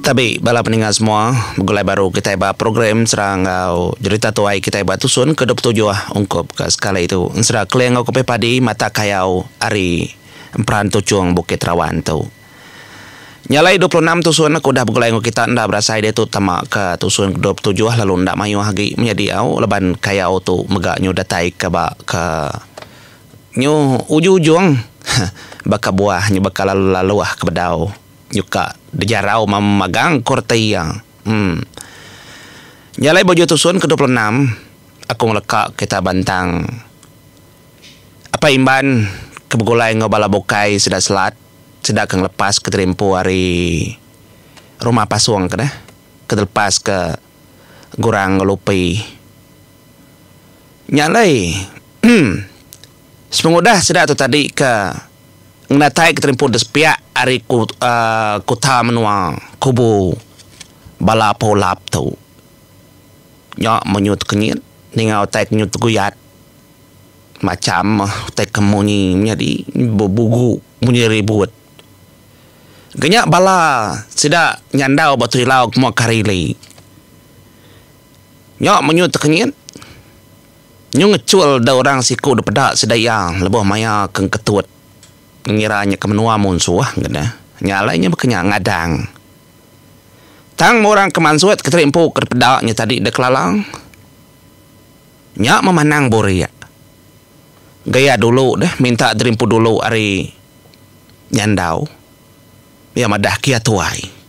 Tabi bala peninga semua begulai baru kitai ba program Sera enggau Jerita Tuai kitai ba Tusun ke dua puluh tujuh ungkup ke sekali tu ensera keling enggau kepih padi mata kayau ari emperan tuchung Bukit Rawan tu. Nya alai dua puluh enam tusun ke udah begulai enggau kita enda berasai diatu tama ke tusun ke dua puluh tujuh lalu enda mayuh agi menya diau laban kayau tu mega nyu datai ke ba ke nyu ujung-ujung baka buah nyu baka laluh-laluh ke bedau. Nyuka bejarau mama magang, ku reti iya. Em. Nya alai Bujur Tusun ke dua puluh enam, aku ngeleka kerita bantang Apai Imban ke begulai enggau bala bukai sida Selat sida ke ngelepas ke terimpu ari rumah pasung ke deh ke dilepas ke Gurang enggau Lupi. Nya alai. Em. Sepengudah sida tu tadi ke ngenatai keterimpun di sepiak ari kuta menua Kubu bala Pulap tu nya menyu tekenyit ninga utai ke nyu teguyat macham utai ke munyi menyadi bebugu munyi ribut ke nya bala sida nyandau ba Terilau ke mua Karili nya menyu tekenyit. Nyu ngechul dau orang siku de peda sida iya lebuh maya ke engketut ngira nya ke menua munsuh ngena nya alai nya baka nya ngadang. Tang meh orang ke mansut Kenteri empu ke dipeda nya tadi deh kelala nya memanang burik gaya dulu deh minta diri empu dulu ari nyandau. Iya madah, Kia Tuai.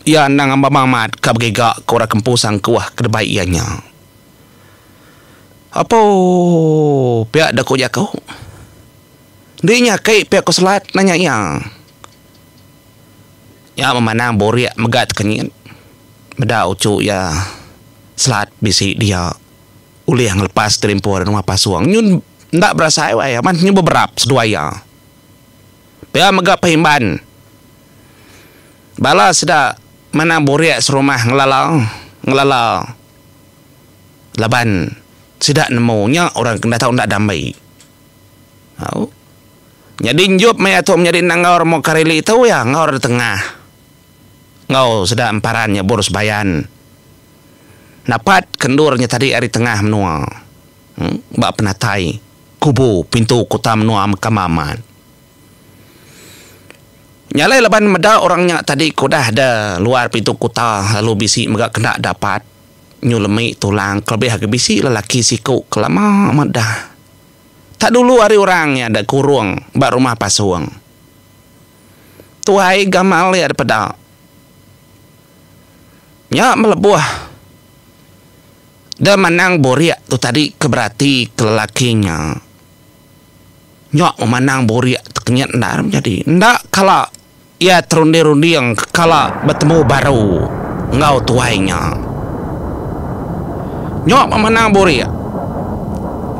Iya endang amba mamat ka begiga ke orang kempu Sangkuh ke debai iya nya. Apo pia deka ku jaku? Enti nya aki pia ku Selat? nanya iya. Nya memanang burik mega tekenyit. Meda uchu iya, Selat bisi dia ulih ngelepas gelimpur nengah pasung. Nyun enda berasai wai aban nyun beberap seduai iya. Pia mega Pehimban, bala sida manang burik serumah ngelala ngelala laban sida nemu nya orang ke enda tau enda damai. Au. Nyadi enjop maya tu menyadi endang enggau remu Kareli tu iya enggau Reda Tengah enggau sida emparan nyebur Sebayan napat ke endur nya tadi ari tengah menua. Em ba penatai. Kubu pintu kuta menua Mekama amat nyalai laban meda orang nya tadi ke udah da luar pintu kuta lalu bisi mega kena dapat nyu lemi tulang kelebih agi bisi lelaki siku ke lama amat da tak dulu ari orang nya da kurung ba rumah pasung. Tuai gamal iya da peda nya melebuh. Da manang borik tu tadi ke berati ke lelaki nya. Nyok memandang borik tu kenyit endar menyadi. Enda kala iya terunding-runding ke kala betemu baru enggau tuai nya. Nyok memandang borik.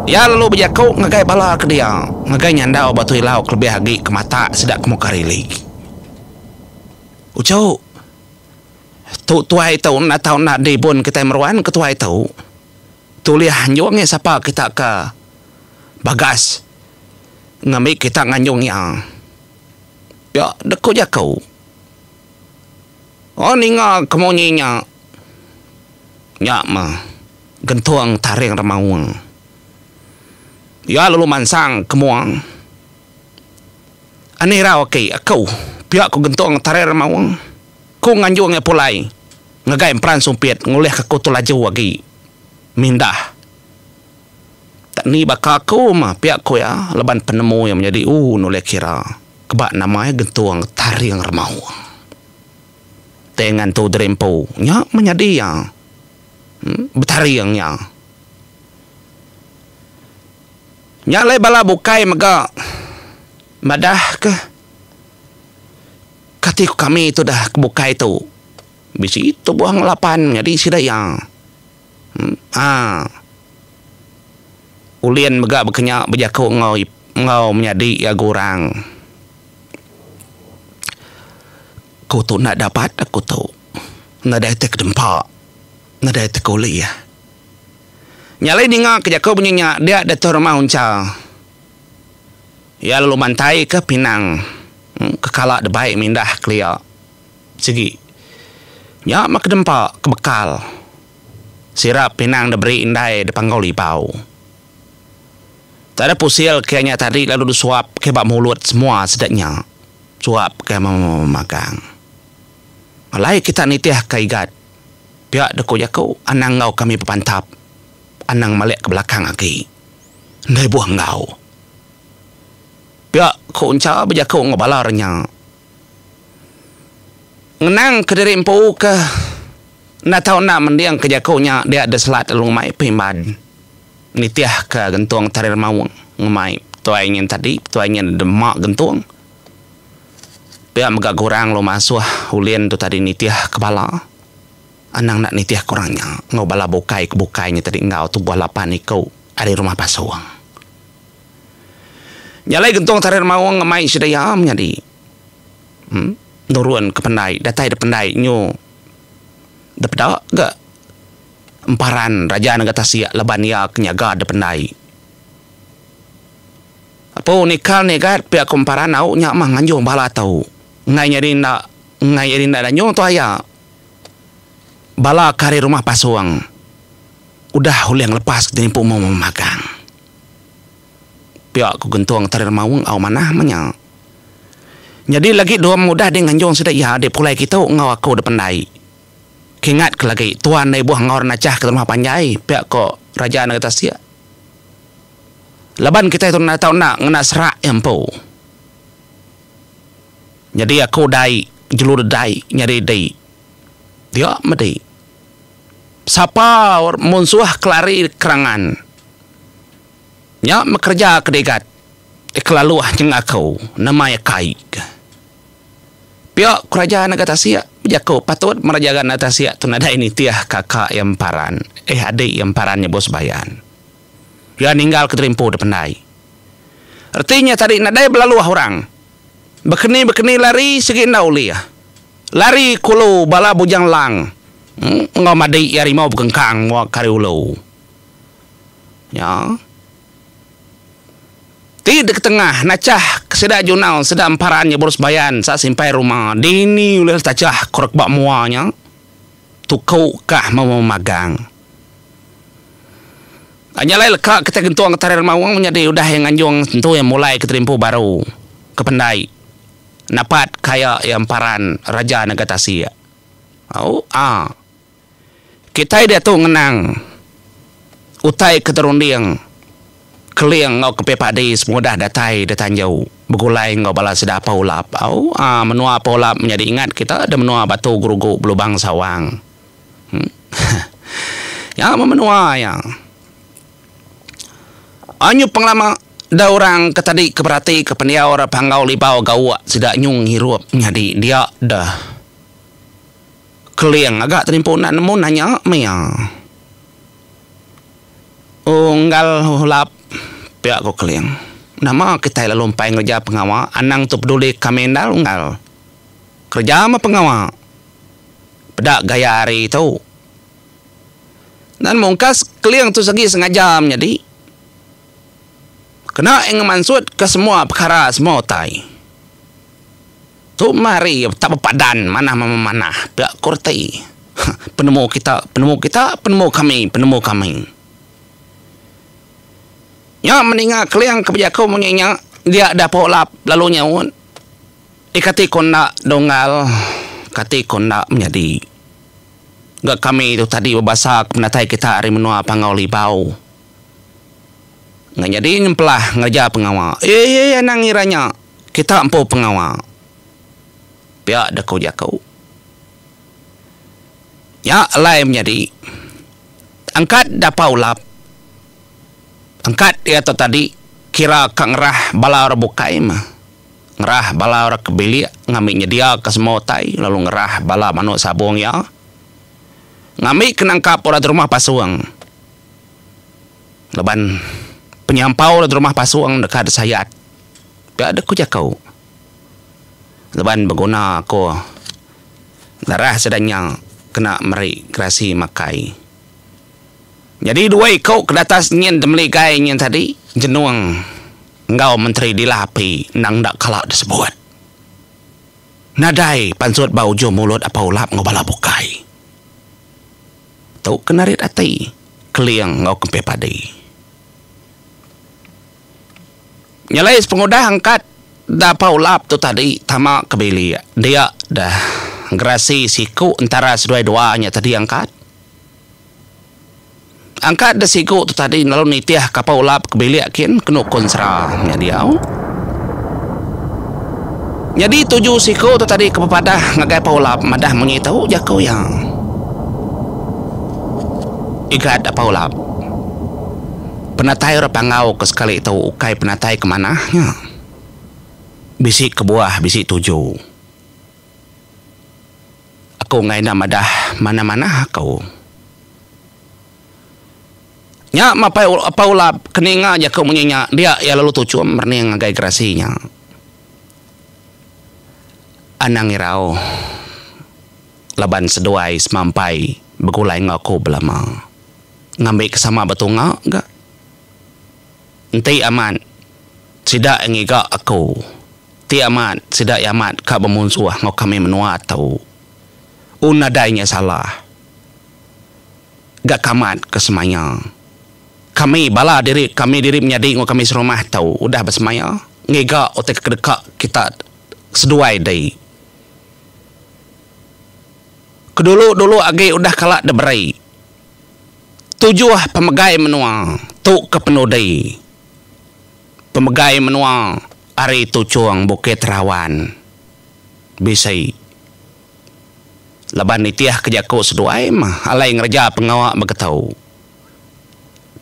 Iya lalu bejaku ngagai bala ke dia, ngagai nyandau Batu Ilau kelebih agi ke matak sida ke muka rili. Uchu. Tu tuai tu enda tau enda dibun kitai meruan ke tuai tu. Tu ulih anjung iya sapa kita ke bagas ngambi kita nganjung iya. Nya dek ku jaku. Oh ninga ke munyi nya. Nya meh gentung taring remaung. Iya lalu mansang ke mua. Anih irau aki aku pia ku gentung taring remaung. Ku Nganjung Ngai Pulai, Ngagai emperan sumpit ngulihka aku tu laju agi. Mindah. Tak ni baka aku mah pia ku iya laban penemu iya menyadi u nulih kira keba nama iya gentung taring remau. Tei ngantu diri empu nya menyadi iya betaring nya. Nya alai bala bukai mega madahka. Kati ku kami tudah ke bukai tu bisi tubuh enggau lapan nyadi sida iya. Haa. Ulin mega bekenya bejaku enggau enggau menyadi iya ga orang. Ku tu enda dapat aku tu. Nadai ti kedempa. Nadai ti ke ulih. Nyalai ninga ke jaku bunyi nya dia diatu rumah uncha. Iya lalu mantaika pinang ke kala debai mindah kelia sigi. Nya meh kedempa ke bekal sirap pinang diberi indai dipanggau libau. Tada pusil ke nya tadi lalu disuapka ba mulut semua sida nya suapka memagang. Alai kita nitihka igat pia deko jaku anang enggau kami bepantap anang malik ke belakang agi. Endai buah enggau. Pia ku Encha bejaku enggau bala orang nya. Ngenang ke diri empu ke enda tau enda mending ke jaku nya dia diselat lalu ngemai Pimban nitih ke gentung Tarir Maung ngemai Tuai nyin tadi, Tuai nyin dema gentung. Pia mega gurang lalu masuh ulin tu tadi nitih ke bala. Anang enda nitihka orang nya enggau bala bukai ke bukai nya tadi enggau tubuh lapan iku ari rumah pasung. Nya alai gentung Tarit Maung enggau mai sida iya menyadi nurun ke pendai datai da pendai nyu da peda ga emparan Raja Naga Tasik laban iya ke nyaga da pendai. Apu Nikal Nyegat pia ku emparan au nya mah nganjung bala tu enggai nyadi enda enggai nyadi enda danyung tu aya. Bala ke ari rumah pasung udah ulih ngelepas ke jerimpu memu magang. Pia ku Gentung Tari Remaung au manah menya. Nyadi lagi dua mudah dih nganjung sida iya dih pulai kitu enggau aku dih pendai. Kingat ke lagi tuan deh ibuh enggau renachah ke rumah panjai, pia ku Raja Negeri Tasik. Laban kitai tu enda tau enda ngena serak iya empu. Nyadi aku dai jelu redai nyadi di dia medi. Sapa munsuh ke lari kerangan nya mekereja ke digat ke laluh nyengah aku nemai akai ke. Pia ku raja nega tasik bejaku patut meh raja ga nega tasik tu nadai nitih kaka iya emparan eh adi iya emparan nyebut sebayan. Iya ninggal ke terimpu dipendai. Reti nya tadi nadai belaluh orang. Bekeni-bekeni lari sigi enda ulih. Lari ke ulu bala Bujang Lang enggau madi iya rimau bekengkang muak ke ari ulu. Nya. Ti diketengah nachah ke sida Junau sida Emparan nyebur sembayan sa simpai ruma dini ulih tachah ke rak ba mua nya. Tuku kah memagang. Nya alai leka kitai gentung Getari Remaung menyadi udah iya nganjung sentu iya mulai kitai empu baru ke pendai napat ka iya iya emparan Raja Naga Tasik. Au aa. Kitai diatu ngenang utai ke terunding Keling enggau Kepih Padi sepengudah datai da Tanjau begulai enggau bala sida Paulap. Au aa menua Paulap menyadi ingat kita da menua Batu Gerugu Belubang Sawang. Nya mun menua iya. Anyu pengelama da orang ke tadi ke beratika pendiau ra panggau libau gauk sida nyung ngirup nyadi dia da Keling aga tadi empu enda nemu nanya meh iya. Unggal ulap pia ku Keling. Nama kitai lalu empai ngereja pengawa anang tu peduli kami endar unggal. Kereja meh pengawa. peda gaya hari tu. Nan mungkas Keling tu segi sengaja menyadi kena iya ngemansut ke semua pekara semua utai. Tu meh hari iya tak bepadan manah meh memanah pia ko reti huh penemu kita penemu kita penemu kami penemu kami. Nya meninga Keling ke bejaku munyi nya dia dapok lap lalu nyaut. Eh kati ko enda Donggal, kati ko enda menyadi. Ga kami tu tadi bebasa ke penatai kita ari menua Pangau Libau. Nya nyadi nyempelah ngereja pengawa. Ye ye ye anang ngira nya kita empu pengawa. Pia deh ko jaku. Nya alai menyadi. Angkat dapa ulap. Angkat ia tu tadi kira ka ngerah bala orang bukai meh. ngerah bala orang ke bilik ngambi nyediaka semua utai lalu ngerah bala manuk sabung iya ngambi ke nangkap orang ti rumah pasung laban penyampau orang ti rumah pasung deka disayat pia deh ku jaku laban beguna ko darah sida nya kena meri gerasi makai nyadi dua iku ke datas nyin temeligai nyin tadi jenung. enggau Menteri Dila Api endang enda kala disebut. Nadai pansut ba ujung mulut Apai Ulap enggau bala bukai. Tu ke narit ati Keling enggau Kempih Padi. Nyelai sepengudah angkat da Apai Ulap tu tadi tama ke bilik dia deh gerasi siku entara seduai dua nya tadi angkat. Angka deh sigu tu tadi lalu nitih kapal ulap ke bilik kin ke nukun sera nya diau. Nyadi tuju siku tu tadi ke bepadah ngagai pa ulap madah munyi tu jaku iya. Igat pa ulap. Penatai orang Panggau ke sekali tu ukai penatai ke manah nya. Bisi kebuah bisi tuju. Aku enggai enda madah manah-manah aku. Nya mapai Apai Ulap ke ninga jaku munyi nya dia iya lalu tuchum merening ngagai gerasi nya. Anang irau laban seduai semampai begulai enggau aku belama ngambi ke sama betunga ga. Enti amat sida iya ngiga aku. Ti amat, sida iya amat ka bemunsuh enggau kami menua tu. Un nadai nya salah ga kamat ke semaya. Kami, bala diri kami diri menyadi enggau kami serumah tu udah besemaya ngiga utai ke kedeka kita seduai dei. Kedulu-dulu agi udah kala diberi tujuh pemegai menua tu ke penudi pemegai menua. Ari Tuchong, Bukit Rawan, bisi laban nitihka jaku seduai mah alai ngereja pengawa begetu.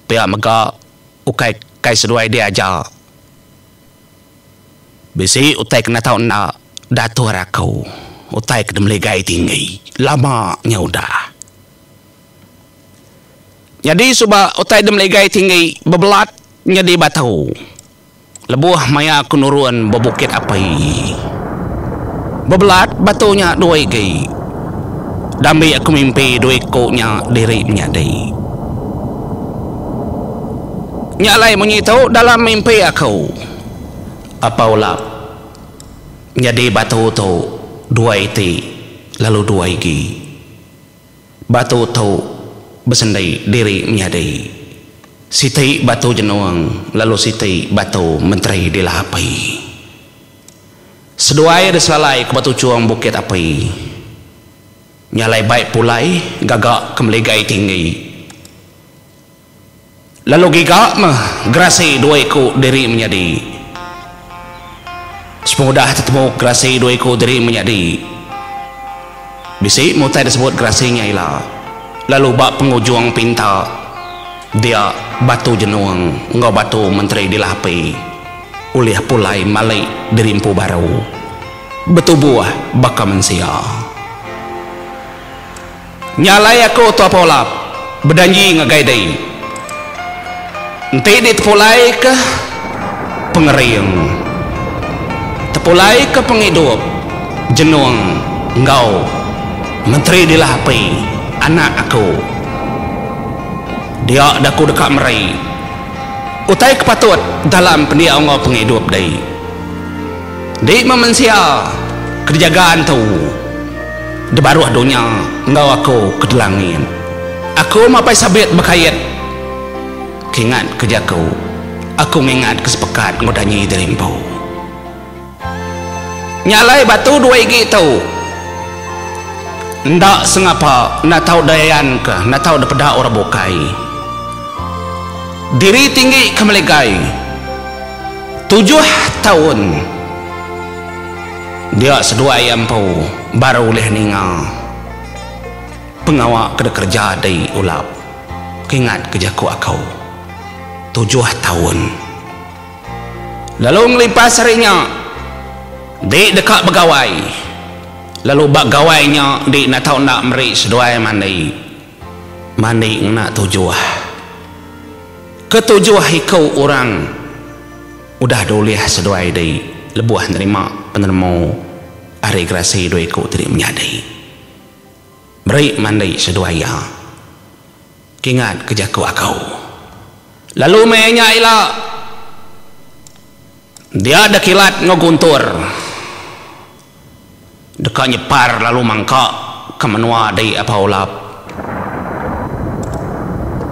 Pia mega ukai kai seduai diaja bisi utai ke nata enda dator aku utai ke demeligai tinggi lama nya udah. Nyadi suba utai demeligai tinggi bebelat nyadi batu. Lebuh maya aku nurun ba Bukit Api, bebelat batu nya dua igi. Dambi aku mimpi dua iku nya diri menyadi. Nya alai munyi tu dalam mimpi aku. Apa ulap nyadi batu tu dua iti lalu dua igi. Batu tu besendi diri menyadi siti batu jenung lalu siti batu menteri dila api. Seduai diselalai ke batu chung bukit api nya alai bai pulai gaga ke meligai tinggi. Lalu giga meh gerasi dua iku diri menyadi. Sepengudah tetemu gerasi dua iku diri menyadi, bisi meh utai disebut gerasi nya ila, lalu ba pengujung pinta dia Batu Jenung enggau Batu Menteri dilapi ulih pulai mali diri empu baru betubuh baka mensia. Nya alai aku Tua Paulap bejanji ngagai dei enti ditepulaika pengering, tepulaika pengidup jenung enggau Menteri Dilah Api anak aku. Dia da ku deka meri utai ke patut dalam pendiau enggau pengidup dei. Dei meh mensia ke dijaga entu de baruh dunya enggau aku ke de langit. Aku meh apai sabit bekait ke ingat ke jaku. Aku ngingat ke sepekat enggau danyi diri empu. Nya alai batu dua igi tu enda sengapa enda tau de ayan ke enda tau de peda orang bukai. Diri tinggi ke meligai. Tujuh taun dia seduai empu baru ulih ninga pengawa ke dikereja dei Ulap. Kingat ke jaku aku, tujuh taun. Lalu ngelipas ari nya dei deka begawai lalu ba gawai nya dei natau enda meri seduai mandi. Mandi ngena tujuh. Ketujuh iku orang udah dulih seduai di lebuh nerima penemu ari gerasi dua iku ti dimenyadi. Meri mandi seduai iya. Kingat ke jaku aku. Lalu meh nya ila dia da kilat enggau guntur. Deka nyepar lalu mangka ka menua dei Abah Olap.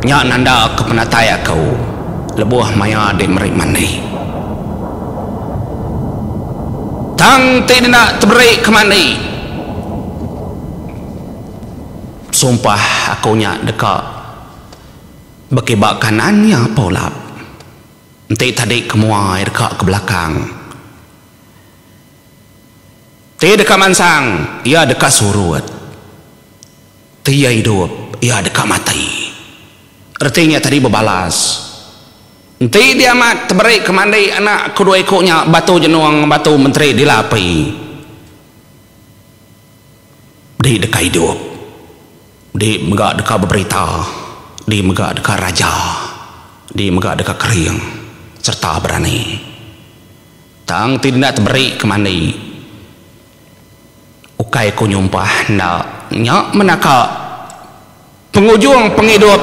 Nya nanda ka penatai aku lebuh maya dei meri mandi. Tang ti enda teberi ka mandi. Sumpah aku nya deka bekiba kanan iya Abah Olap. Enti tadi ke mua iya deka ke belakang. Ti deka mansang, iya deka surut. Ti iya idup, iya deka mati. Reti nya tadi bebalas, Enti diamat teberi ke mandi anak aku dua iku nya batu jenong batu menteri dila api, di deka idup, di mega deka beberita, di mega deka raja, di mega deka kering sereta berani. Tang ti enda teberi ke mandi. Ukai ku nyumpah enda nya menaka pengujung pengidup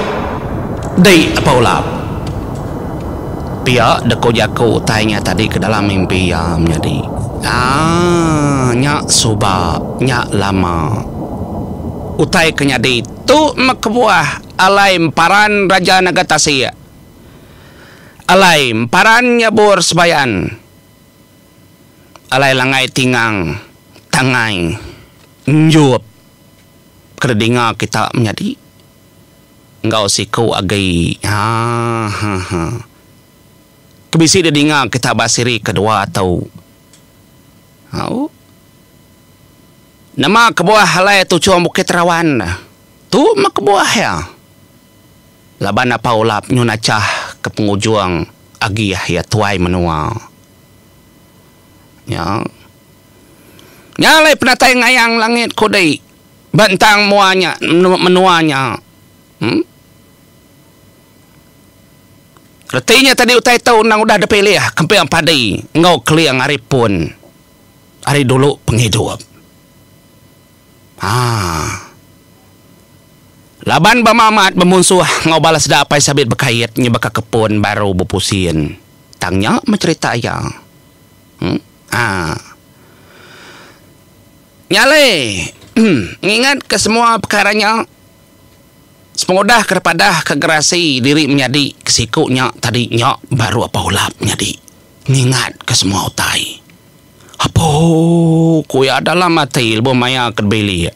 di Apai Ulap. Pia dek ku jaku utai nya tadi ke dalam mimpi iya menyadi. Aaa nya suba nya lama. Utai ke nyadi tu meh kebuah alai emparan Raja Naga Tasik. Alai emparan nyabur sebayan. Alai langgai tingang tangai enjop ke didinga kita menyadi enggau siku agi ahaha ke bisi didinga kita ba siri kedua tu. Au Nama kebuah alai tuchung Bukit Rawan tu meh kebuah iya. Laban Apai Olap nyun achah ke pengujung agi iya tuai menua nya. Nya alai penatai ngayang langit ko dei ba entang mua nya menua nya. Em. Reti nya tadi utai tu endang udah dipilih kemping padi enggau keling ari pun ari dulu pengidup. Haa. Laban bama amat bemunsuh enggau bala sida apai sabit bekait nya baka kepun baru bepusin. Tang nya meh cherita iya. Em. Haa. Nya alai. Em. Ngingatka semua pekara nya sepengudah ke repadah ke gerasi diri menyadi ke siku nya tadi nya baru apai ulap nyadi. Ngingatka semua utai. Apo ku iya dalam ati lebuh maia ke bilik.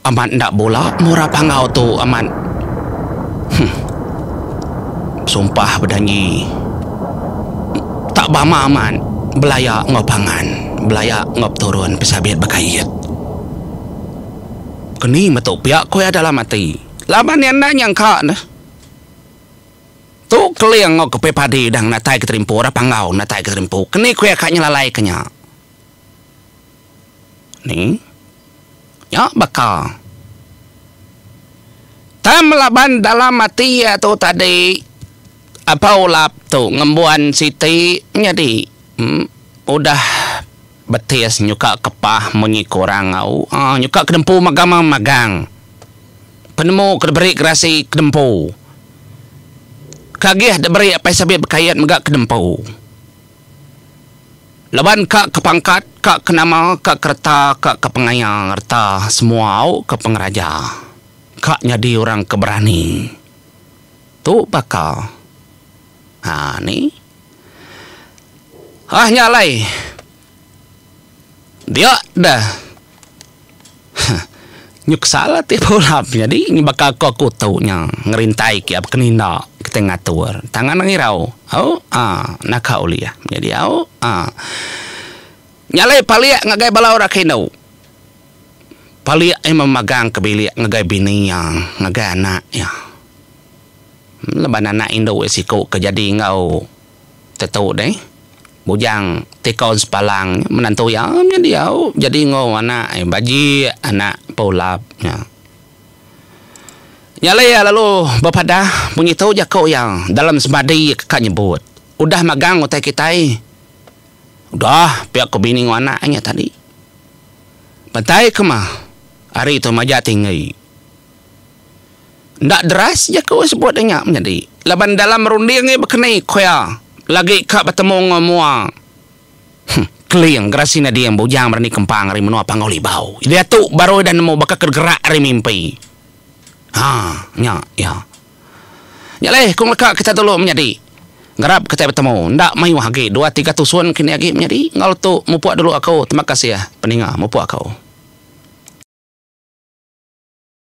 Amat enda bula murah panggau tu amat. Huh. Besumpah bejanji. Tak bama amat belaya enggau pangan, belaya enggau peturun pesabit bekait. Keni metu pia ku iya dalam ati. Laban iya enda nyangka ne. Tu Keling enggau Kepi Padi udah ngenatai Keterimpu udah panggau ngenatai Keterimpu keni kuih ka nyelalai ke nya. Ni. Nya baka. Tang melaban dalam ati iya tu tadi Apa Ulap tu ngembuan siti nyadi em udah betis nyuka kepah munyi ke orang au. Aa nyuka ke dempu magam magang. Penemu ke diberi gerasi kedempu ke agih diberi apai sabit bekait mega kedempu laban ka ke pangkat, ka ke nama, ka ke reta, ka ke pengaya reta semua au ke pengeraja ka nyadi orang ke berani. Tu baka aa ni. Aah nya alai. Dia dah. Huh. Nyuksal ati Pulam nyadi nyebaka ko kutu nya ngerintai kia bekeninda kitai ngatur. Tangan angai rau. Au. Ah. Naka ulih. Nyadi au. Ah. Nyalai palik ngagai bala orang ke indu. Palik aye meh magang ke bilik ngagai bini iya, ngagai anak iya. Laban anak indu iya siku ke jadi enggau. Tetu deh. Bujang Tikaun Sepalang nya menantu iya meh diau jadi enggau anak iya bajik anak Empu Ulap nya. Nya alai iya lalu bepadah pengitu jaku iya dalam semadi iya ka nyebut, Udah magang utai kitai. Udah pia ku bini enggau anak iya tadi. Pantai ke mah ari tu majak tinggi. Enda deras jaku sebut nya menyadi laban dalam runding iya baka ni ku iya lagi ka betemu enggau mua Keling gerasi nading bujang berani kempang ari menua Panggau Libau. Diatu baru ida nemu baka ke gerak ari mimpi. Ha nya iya. Nya alai ku ngelaka kita dulu menyadi ngarap kitai betemu enda mayuh agi dua tiga tusun kini agi menyadi enggau tu mupuk dulu aku terima kasih peninga mupuk aku.